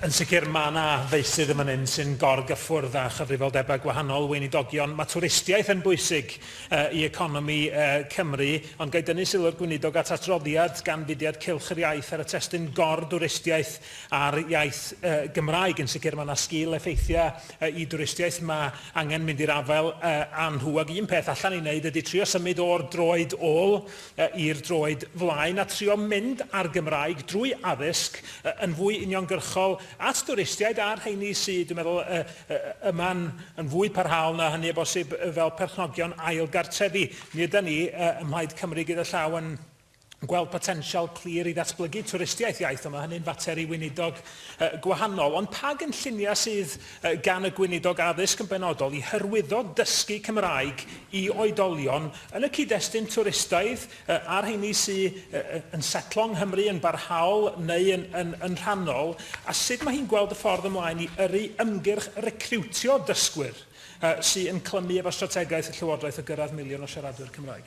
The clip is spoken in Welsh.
Yn sicr, mae yna feysydd yn fan hyn sy'n gor-gyffwrdd â chyfrifoldebau gwahanol, weinidogion. Mae twristiaeth yn bwysig i economi Cymru, ond ga i dynnu sylw'r Gweinidog at adroddiad gan Fudiad Cylch yr Iaith ar y testun gor-dwristiaeth a'r iaith Gymraeg. Yn sicr, mae yna sgil-effeithiau i dwristiaeth. Mae angen mynd i'r afael â nhw. Ac un peth allan i wneud ydy trio symud o'r droed ôl i'r droed flaen a trio mynd â'r Gymraeg drwy addysg yn fwy uniongyrchol at dwristiaid a'r rheini sy, dwi'n meddwl, yma'n yn fwy parhaol na hynny o bosib fel perchnogion ail gartrefi. Mi ydan ni ym Mhlaid Cymru gyda llaw yn gweld potensial clir i ddatblygu twristiaeth iaith, ond mae hynny'n fater i weinidog gwahanol. Ond pa gynlluniau sydd gan y Gweinidog Addysg yn benodol, i hyrwyddo dysgu Cymraeg i oedolion yn y cyd-destun twristaidd a rheini sy yn setlo yng Nghymru yn barhaol neu yn rhannol, a sut mae hi'n gweld y ffordd ymlaen i yrru ymgyrch recriwtio dysgwyr sy'n clymu efo strategaeth y Llywodraeth o gyrraedd miliwn o siaradwyr Cymraeg.